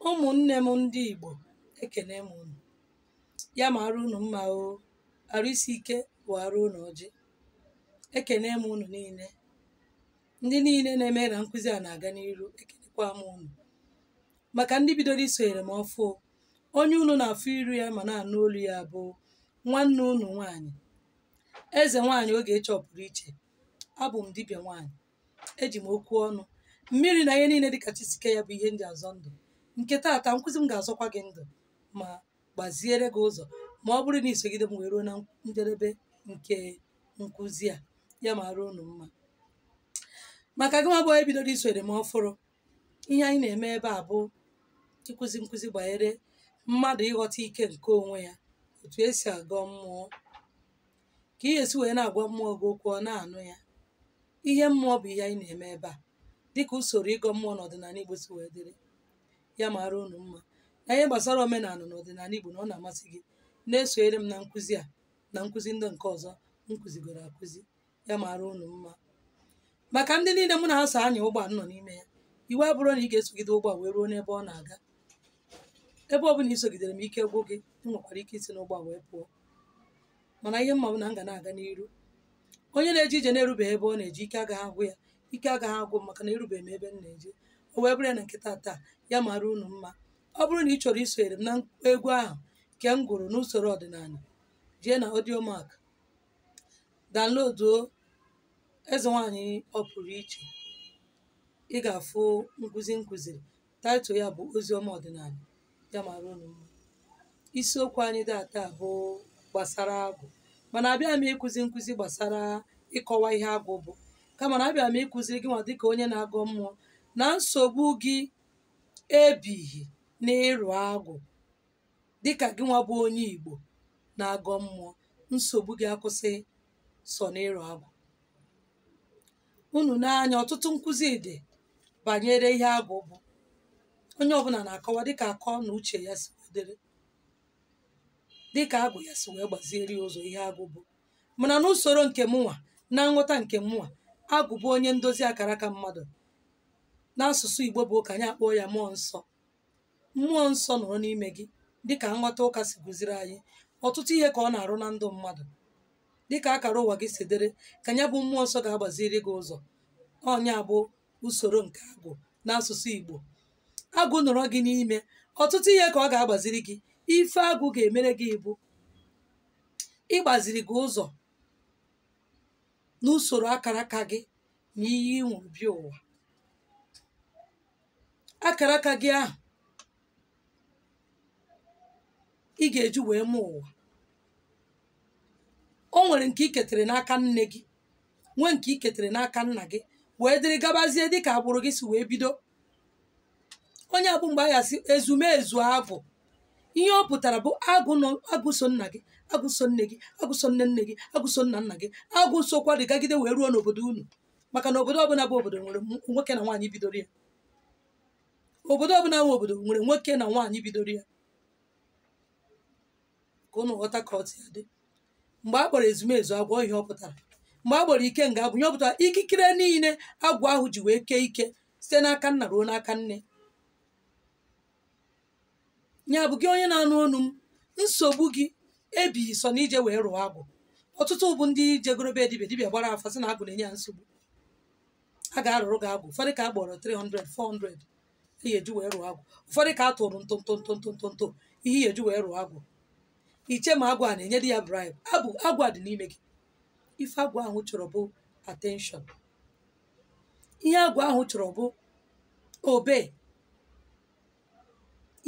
ụmụnne m ndị Igbo ekene m unu ya mara unu mma o arụ isi ike wara unu ọjị ekene m unu niile ndị niile na-eme na nkụzi a na-aga n'iru ekenekwa m unu maka ndị bidoro isonyere m ọfụụ onye unu na-afụ iru ya ma na-anụ olu ya bụ nwanne unu nwaanyị eze nwaanyị Ogechi ọ pụrụ iche abụ m dibịa nwaanyị eji m okwu ọnụ mmiri na ihe niile dịka chi si kee ya bụ ihe m ji azọ ndụ nke taata nkụzi m ga-azọkwa gị ndụ ma gbaziere gị ụzọ ma ọ bụrụ na i sogide m wee ruo na njedebe nke nkụzi a ya mara unu mma maka gị nwa bụ onye bidoro isonyere m ọfụrụ ihe anyị na-eme ebe a bụ ịkụzi nkụzi banyere mmadụ ịghọta ike nke onwe ya otu esi agọ mmụọ ka ị ga-esi wee na-agwa mmụọ gị okwu ọ na-anụ ya ihe mmụọ bụ ihe anyị na-eme ebe a dịka usoro ịgọ mmụọ n'ọdịnala Igbo si wee dịrị ya mara unu mma na ihe gbasara omenala na ọdịnala Igbo na ọ na-amasị gị na-esonyere m na nkụzi a na nkụzi ndị nke ọzọ m kụzigoro akụzi ya mara unu mma maka ndị niile mụ na ha so anya ụgbọ nọ n'ime ya iwu abụrọ na ị ga-esogide ụgbọ wee ruo n'ebe ọ na-aga ebe ọ bụla i sogidere m ike gwụ gị ị nwekwara ike isi n'ụgbọ a wee pụọ mana ihe m ma bụ na m ga na-aga n'iru onye na-eje ije na-erubeghị ebe ọ na-eje ike agaghị agwụ ya ike agaghị agwụ m maka na erubeghị m ebe m na-eje o wee bụrụ ya na nke taa ya mara unu mma ọ bụrụ na ị chọrọ isonyere m na egwu ahụ nke m gụrụ n'usoro ọdịnala jee na Audiomack downloaduo eze nwaanyị ọ pụrụ iche ị ga-afụ nkụzi m kụziri Title ya bụ Oziọma Ọdịnala ya mara unu mma. Isiokwu anyị taata bụ gbasara agwụ mana abịa m ịkụzi nkụzi gbasara ịkọwa ihe agwụ bụ kama na abịa m ịkụziri gị nwa dịka onye na-agọ mmụọ na nsogbu gị ebighị n'ịrụ agwụ dịka gị nwa bụ onye Igbo na-agọ mmụọ nsogbu gị akwụsịghị sọ n'ịrụ agwụ unu n'anya ọtụtụ nkụzi dị banyere ihe agwụ bụ onye ọbụla na-akọwa dịka akọ na uche ya si dịrị dịka agwụ ya si wee gbaziere ya ụzọ ihe agwụ bụ mana n'usoro nke mụnwa na nghọta nke mụnwa agwụ bụ onye ndozi akara aka mmadụ n'asụsụ Igbo bụ ụka anyị akpọọ ya mmụọ nsọ mmụọ nsọ nọrọ n'ime gị dịka nghọta ụka si kụziri anyị ọtụtụ ihe ka ọ na-arụ na ndụ mmadụ dịka akara ụwa gị si dịrị ka ya bụ mmụọ nsọ ga-agbaziri gị ụzọ ọ nya bụ usoro nke agwụ n'asụsụ Igbo agwụ nọrọ gị n'ime ọtụtụ ihe ka ọ ga-agbaziri gị ife agwụ ga-emere gị bụ ịgbaziri gị ụzọ n'usoro akara aka gị na iyi ị ṅụrụ bịa ụwa akara aka gị ahụ ị ga-eji wee mụ ụwa o nwere nke i ketere n'aka nne gị nwee nke i ketere n'aka nna gị wee dịrị gabazie dịka agbụrụ gị si wee bido ọ ya bụ mgbe a ga-asị ezumezu agwụ ihe ọ pụtara bụ agwụ nọ agwụ so nna gị agwụ so nne gị agwụ so nne nne gị agwụ so nna nna gị agwụ sokwa dịgagide wee ruo n'obodo unu maka na obodo ọbụla bụ obodo nwere m- nwoke na nwaanyị bidoro ya obodo ọbụla bụ obodo nwere nwoke na nwaanyị bidoro ya ka unu ghọta ka otu ya dị mgbe a kpọrọ ezumezu agwụ ihe ọ pụtara mgbe a kpọrọ ikenga agwụ ihe ọ pụtara ikikere niile agwụ ahụ ji wee kee ike site n'aka nna ruo n'aka nne ya bụ gị onye na-anụ onu m nsogbu gị ebighị sọ na ije wee rụọ agwụ ọtụtụ bụ ndị jegoro be dibịa dibịa gbara afa sị na agwụ na-enye ya nsogbu a ga-arụrụ gị agwụ ụfọdụ ka a gbọrọ 300 400 ihe eji wee rụọ agwụ ụfọdụ ka a tụrụ ntụ ihe ihe eji wee rụọ agwụ i che ma agwụ a na-enyedị ya bribe agwụ agwụ a dị n'ime gị ife agwụ ahụ chọrọ bụ attention ihe agwụ ahụ chọrọ bụ obey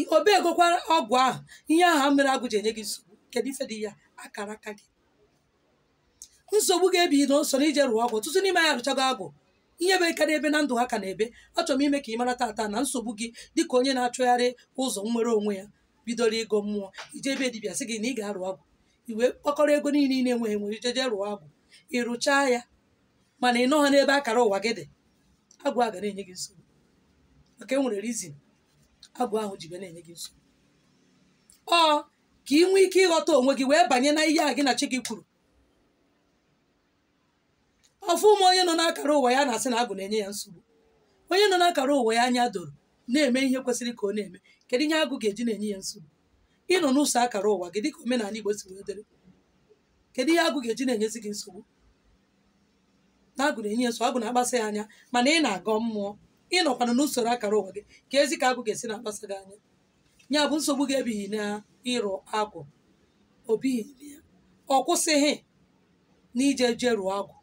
I obeygokwa agwụ ahụ ihe ahụ mere agwụ ji enye gị nsogbu kedu ife dị ya akara aka gị nsogbu gị ebighị na sọ na ije rụọ agwụ ọtụtụ n'ime anyị arụchago agwụ ihe bekarị ebe na ndụ ha ka na-ebe achọrọ m ime ka ị mara tata na nsogbu gị dịka onye na-achọgharị ụzọ nnwere onwe ya bidoro ịgọ mmụọ i jee be dibịa sị gị na ị ga-arụ agwụ i wee kpokọrọ ego niile ị na-enweghị enwe jeje rụọ agwụ ị rụchaa ya mana ị nọghị n'ebe akara ụwa gị dị agwụ a ga na-enye gị nsogbu maka e nwere reason agwụ ahụ ji ga na-enye gị nsogbu ọ ka ị nwee ike ịghọta onwe gị wee banye na ihe a gị na chi gị kwuru afụghị m onye nọ n'akara ụwa ya na-asị na agwụ na-enye ya nsogbu onye nọ n'akara ụwa ya anya doro na-eme ihe kwesịrị ka ọ na-eme kedu ihe agwụ ga-eji na-enye ya nsogbu ị nọ n'usoro akara ụwa gị dịka omenala Igbo si wee dịrị kedu ihe agwụ ga-eji na-enyezi gị nsogbu na agwụ na-enye gị nsogbu agwụ na-akpasa gị anya mana ị na-agọ mmụọ ị nọkwana n'usoro akara ụwa gị keduzi ka agwụ ga-esi na-akpasa gị anya ya bụ nsogbu gị ebighị na ịrụ agwụ o bighị na ya ọ kwụsịghị na ije je rụọ agwụ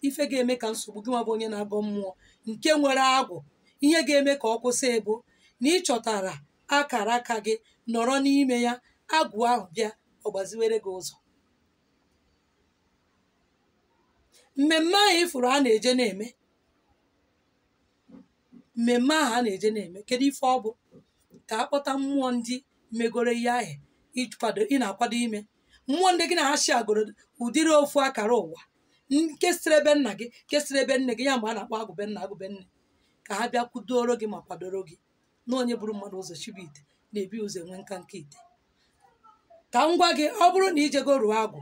ife ga-eme ka nsogbu gị nwa bụ onye na-agọ mmụọ nke nwere agwụ ihe ga-eme ka ọ kwụsị bụ na ị chọtara akara aka gị nọrọ n'ime ya agwụ ahụ bịa ọ gbaziwere gị ụzọ mmemme ahụ ị fụrụ a na-eje na-eme mmemme ahụ a na-eje na-eme kedu ife ọ bụ ka a kpọta mmụọ ndị megoro ihe ahụ ị na-akwado ime mmụọ ndị gị na ha si agoro ụdịrị ofu akara ụwa nke siri ebe nna gị nke siri ebe nne gị ya mgbe a na-akpọ agwụ be nna agwụ be nne ka ha bịa kwudooro gị ma kwadoro gị na onye buru mmadụ ụzọ shibe ite na-ebu ụzọ enwe nkanka ite ka m gwa gị ọ bụrụ na i jego rụọ agwụ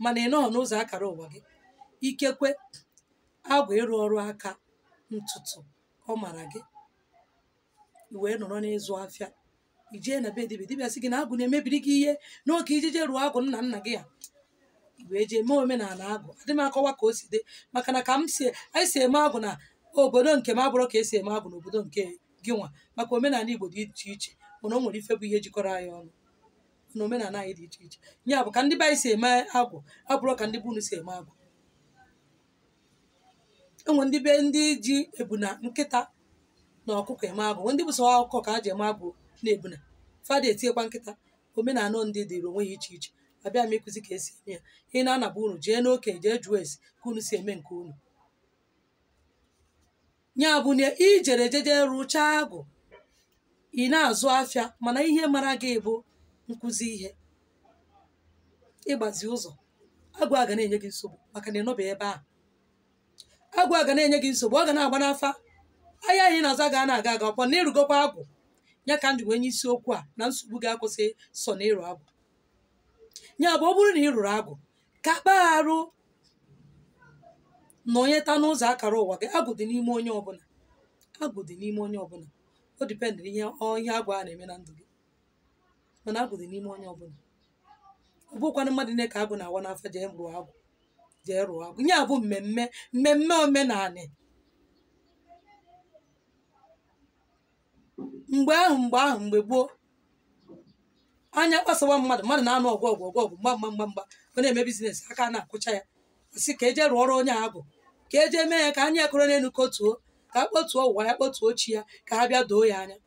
mana ị nọghọ n'ụzọ akara ụwa gị ikekwe agwụ ịrụ ọrụ aka ntụtụ ọ mara gị i wee nọrọ n'ịzụ afịa i jee na be dibịa dibịa sị gị na agwụ na-emebiri gị ihe na ọ ka i jije rụọ agwụ nna nna gị ya i wee jee mee omenala agwụ adị m akọwa ka o si dị maka na ka m si anyị si eme agwụ na obodo nke m abụrọ ka e si eme agwụ n'obodo nke gị nwa maka omenala igbo dị iche iche mana o nwere ife bụ ihe jikọrọ anyị ọnụ na omenala anyị dị iche iche ya bụ ka ndị be anyị si eme agwụ abụrọ ka ndị be unu si eme agwụ e nwee ndị be ndị ji ebuna nkịta na ọkụkọ eme agwụ nwee ndị bụ sọ ọkụkọ ka ha ji eme agwụ na ebuna fa ada etinyekwa nkịta omenala ndị dịrị onwe ya iche iche abịa m ịkụzi ka e si eme ya ị naa na be unu jee n'oke jee jụọ ese ka unu si eme nke unu ya bụ na i jere jeje rụchaa agwụ ị na-azụ afịa mana ihe mara gị bụ nkụzi ihe ịgbazi ụzọ agwụ a ga na-enye gị nsogbu maka na ị nọbeghị ebe ahụ agwụ a ga na-enye gị nsogbu ọ ga na-agba n'afa ahịa ahụ ị na-azụ aga na-aga aga ọ kwa na ị rụgokwa agwụ ya ka m ji wee nye isiokwu a na nsogbu ga-akwụsị sọ na ịrụ agwụ ya bụ ọ bụrụ na ị rụrụ agwụ ka kpagharụ nọnyeta n'ụzọ akara ụwa gị agwụ dị n'ime onye ọbụla agwụ dị n'ime onye ọbụla o depend ihe ọ- ihe agwụ a na-eme na ndụ gị mana agwụ dị n'ime onye ọbụla ọ bụkwanụ mmadụ niile ka agwụ na-awa n'afa jee rụọ agwụ jee rụọ agwụ ya bụ mmemme mmemme omenala mgbe ahụ mgbe ahụ mgbe gboo anya kpasawa mmadụ mmadụ na-anụ ọgụ ọgụ ọgụ ọgụ mgba mgba mgba mgba ọ na-eme business aka na-akwụcha ya a sị ka e je rụọrọ onye agwụ ka e je mee ya ka anya e koro n'elu kotuo ka a kpọtuo ụwa ya kpọtuo chi ya ka ha bịa doo ya anya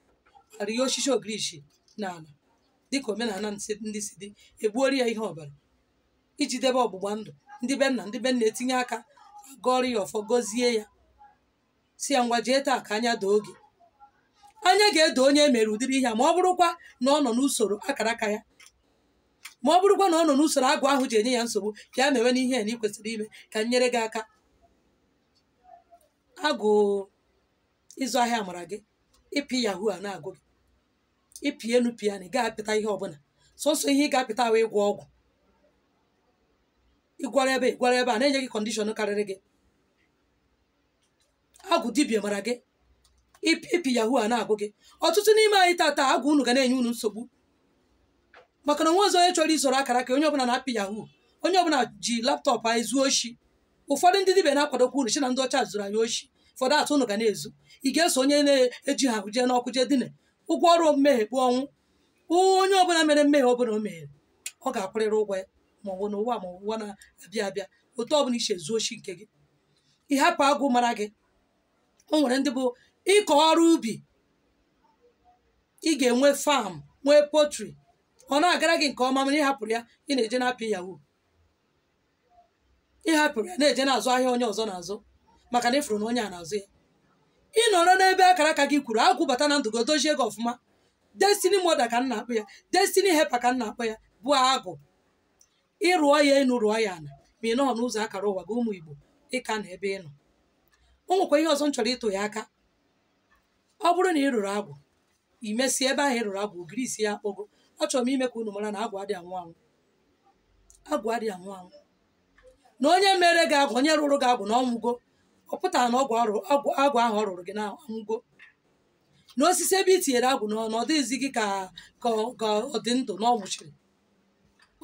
arịa osisi ogirishi n'ala dịka omenala nsị- ndị si dị e gbuoro ya ihe ọbara iji debe ọgbụgba ndụ ndị be nna ndị be nna etinye aka gọrọ ya ọfọ gọzie ya sị ya ngwa jee taa ka anya doo gị anya ga-edo onye e mere ụdịrị ihe a ma ọ bụrụkwa na ọ nọ n'usoro akara aka ya ma ọ bụrụkwa na ọ nọ n'usoro agwụ ahụ ji enye ya nsogbu ka ya mewe n'ihe a na ị kwesịrị ime ka m nyere gị aka agwụ ịzụ ahịa mara gị ịpị yahoo a na-agụ gị ị pịa enu pịa ana ị gaghị apịta ihe ọbụla sọsọ ihe ị ga-apịta wụ ịgwọ ọgwụ ịgwara ebe ịgwara ebe a na-enye gị condition karịrị gị agwụ dibịa mara gị ịpị yahoo a na-agụ gị ọtụtụ n'ime anyị tata agwụ unu ga na-enye unu nsogbu maka na o nwezighị onye chọrọ isoro akara aka onye ọbụla na-apị yahoo onye ọbụla ji laptop ezu oshi ụfọdụ ndị dibịa na-akwadokwa unu shị na ndị ọcha zuru anyị oshi for that unu ga na-ezu ị ga-eso onye na-eji ha jee n'ọkụ jee dine ụgwọ ọrụ mmehie bụ ọnwụ onye ọbụla mere mmehie ọbụla o mehere ọ ga-akwụrịrị ụgwọ ya ma ọ bụ n'ụwa ma ụwa na-abịa abịa otu ọbụla i shi ezu oshi nke gị ị hapụ agwụ mara gị o nwere ndị bụ ịkọ ọrụ ubi ị ga-enwe farm nwee poultry ọ na-agara gị nke ọma mana ị hapụrụ ya ị na-eje na-apị yahoo ị hapụrụ ya na-eje na-azụ ahịa onye ọzọ na-azụ maka na ị fụrụ na onye a na-azụ ya ị nọrọ n'ebe akara aka gị kwuru agwụ bata na ndụ gị o dozie gị ọfụma destiny moulder ka m na-akpọ ya destiny helper ka m na-akpọ ya bụ agwụ ị rụọ ya enu rụọ ya ala ma ị nọghị n'ụzọ akara ụwa gị ụmụ igbo ị ka nọ ebe ị nọ o nwekwa ihe ọzọ m chọrọ ịtụ ya aka ọ bụrụ na ị rụrụ agwụ e mesịa ebe ahụ ị rụrụ agwụ ogirisi ya akpọgo achọrọ m ime ka unu mara na agwụ adịghị anwụ anwụ agwụ adịghị anwụ anwụ na onye mere gị agwụ onye rụrụ gị agwụ na ọ nwụgo ọ pụtaghị na ọgwụ arụ- agwụ agwụ ahụ ọ rụrụ gị na ọ nwụgo na osisi ebe i tinyere agwụ n'ọnụ ọ dịghịzi gị ka ka ọ- ka ọ dị ndụ na ọ nwụchiri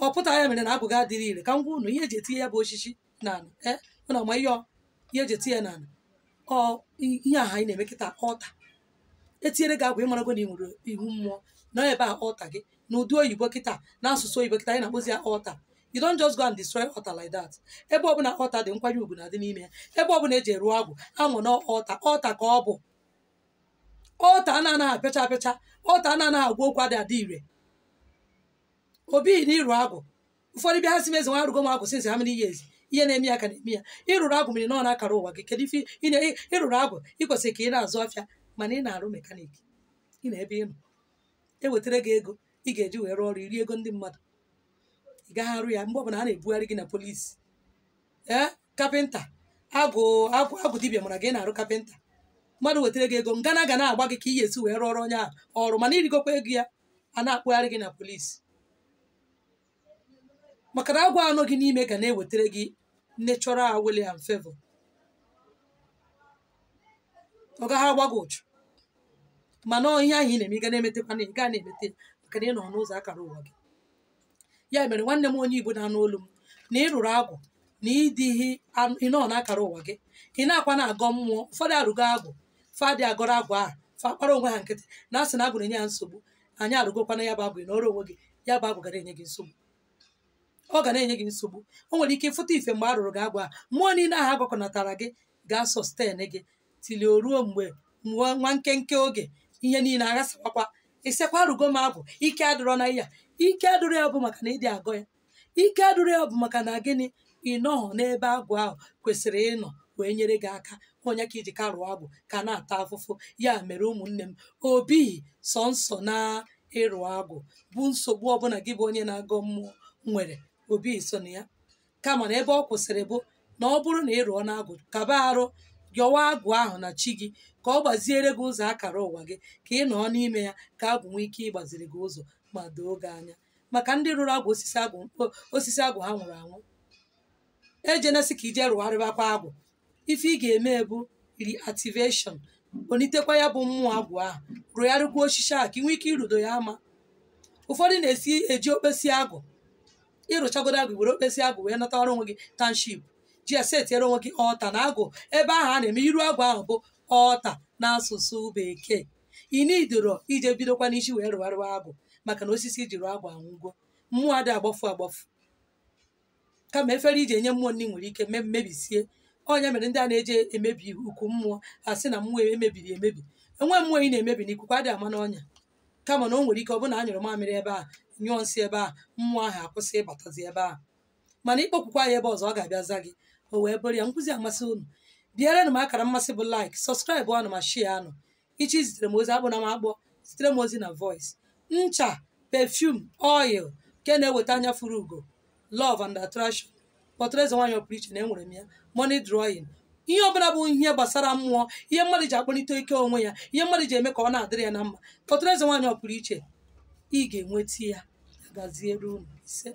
ọ pụtaghị ya mere na agwụ gị adịghị ire ka m gwa unu ihe eji etinye ya bụ osisi n'ala ee unu ama ihe ọ- ihe eji etinye ya n'ala ọ i- ihe aha anyị na-eme kịta altar etinyere gị agwụ ị marago na ị nwere ihu mmụọ na ebe a altar gị na ụdị oyibo kịta na asụsụ oyibo kịta anyị na-akpọzi ya altar you don't just go and destroy altar like that ebe ọbụla altar dị nkwanye ugwu na-adị n'ime ya ebe ọbụla eji rụọ agwụ ahụ na altar altar ka ọ bụ altar a na-anaghị apịacha apịacha altar a na-anaghị agwa okwu adịghị adị ire ọ bụghị na ịrụ agwụ ụfọdụ bịa ha sị m ezi nwa arụgo m agwụ since how many years ihe na-eme ya ka na-eme ya ị rụrụ agwụ mana ị nọ n'akara ụwa gị kedu ife ị na- ị- ị rụrụ agwụ ị kwesịrị ka ị na-azụ afịa mana ị na-arụ mechanic ị nọ ebe ị nọ ewetara gị ego ị ga-eji wee rụọ ọrụ i rie ego ndị mmadụ ị gaghị arụ ya mgbe ọbụla a na-ebugharị gị na police ee kapịnta agwụ dibịa mara gị na-arụ kapịnta mmadụ wetara gị ego ngana ga na-agba gị ka ị ga-esi wee rụọrọ onye ahụ ọrụ mana i rigokwa ego ya a na-akpụgharị gị na polisi maka na agwụ a nọ gị n'ime ga na-ewetara gị natural wealth and favor ọ gaghị agba gị ụchụ mana ihe ahụ ị na-eme ị ga na-emetakwa na ị ga na-emeta ya maka na ị nọ n'ụzọ akara ụwa gị ya mere nwanne m onye igbo na-anụ olu m na ị rụrụ agwụ na ịdịghị ị nọ n'akara ụwa gị ị nakwa na-agọ mmụọ ụfọdụ arụgo agwụ fa adị agọrọ agwụ ahụ fa agbara onwe ha nkịtị na-asị na agwụ na-enye ha nsogbu anyị arụgokwana ya bụ agwụ ị nọrọ onwe gị ya bụ agwụ ga na-enye gị nsogbu ọ ga na-enye gị nsogbu o nwere ike ị fụta ife mgbe a rụrụ gị agwụ ahụ mmụọ niile ahụ agwakọnatara gị ga-asọsten gị till o ruo mgbe nwa nkenke oge ihe niile aghasawakwa ị sịkwa arụgo m agwụ ike adịrọ na ya ike adịrọ ya bụ maka na ị dị agọ ya ike adịrọ ya bụ maka na gịnị ị nọghọ n'ebe agwụ ahụ kwesịrị ịnọ wee nyere gị aka ọ nya ka i ji ka rụọ agwụ ka na-ata afụfụ ya mere ụmụnne m ọ bụghị sọsọ na ịrụ agwụ bụ nsogbu ọbụla gị bụ onye na-agọ mmụọ nwere ọ bụghị sọ nya kama na ebe ọ kwụsịrị bụ na ọ bụrụ na ị rụọna agwụ kaba arụ yọwa agwụ ahụ na chi gị ka ọ gbaziere gị ụzọ akara ụwa gị ka ị nọọ n'ime ya ka agwụ nwee ike ịgbaziri gị ụzọ ma doo gị anya maka ndị rụrụ agwụ osisi agwụ ha nwụrụ anwụ ejena sị ka i je rụgharịbakwa agwụ ife ị ga-eme bụ reactivation kponitekwa ya bụ mmụọ agwụ ahụ rụgharịkwa osisi ahụ ka ị nwee ike irudo ya ama ụfọdụ na-esi eji okpesi agwụ ị rụchagodu agwụ were okpesi agwụ wee natara onwe gị township ji ya setiere onwe gị altar na agwụ ebe ahụ a na-eme iru agwụ ahụ bụ altar n'asụsụ bekee ị needirọ ije bidokwa n'isi wee rụgharịwa agụ maka na osisi i ji rụọ agwụ anwụgo mmụọ adị agbafu agbafu kama efere iji enye mmụọ nri nwere ike mebisie ọ nya mere ndị a na-eje emebi okwu mmụọ ha sị na mmụọ emebiri emebi enwe mmụọ ị na-emebi na ikuku adị ama n'ọnya kama na o nwere ike ọ bụrụ na a nyụrụ mamịrị ebe a nyụọ nsị ebe a mmụọ ahụ akwụsị ịbatazi ebe a mana ịkpọkwukwa ya ebe ọzọ ọ ga-abịa za gị o wee bụrụ ya nkụzi a masị unu pịaranụ m akara mmasị bụ like sọskraịbụanụ ma shịaanụ ị chọọ izitere m ozi akpọna m akpọ zitere m ozi na voice ncha perfume oil nke na-eweta anya fụrụ ugo love and attraction kpọtụrụ eze nwaanyị ọpụrụ iche na enwere m ya money drawing ihe ọbụla bụ ihe gbasara mmụọ ihe mmadụ ji akpọlite ike onwe ya ihe mmadụ ji eme ka ọ na-adịrị ya na mma kpọtụrụ eze nwaanyị ọpụrụ iche ị ga-enweta ya gaziere unu isee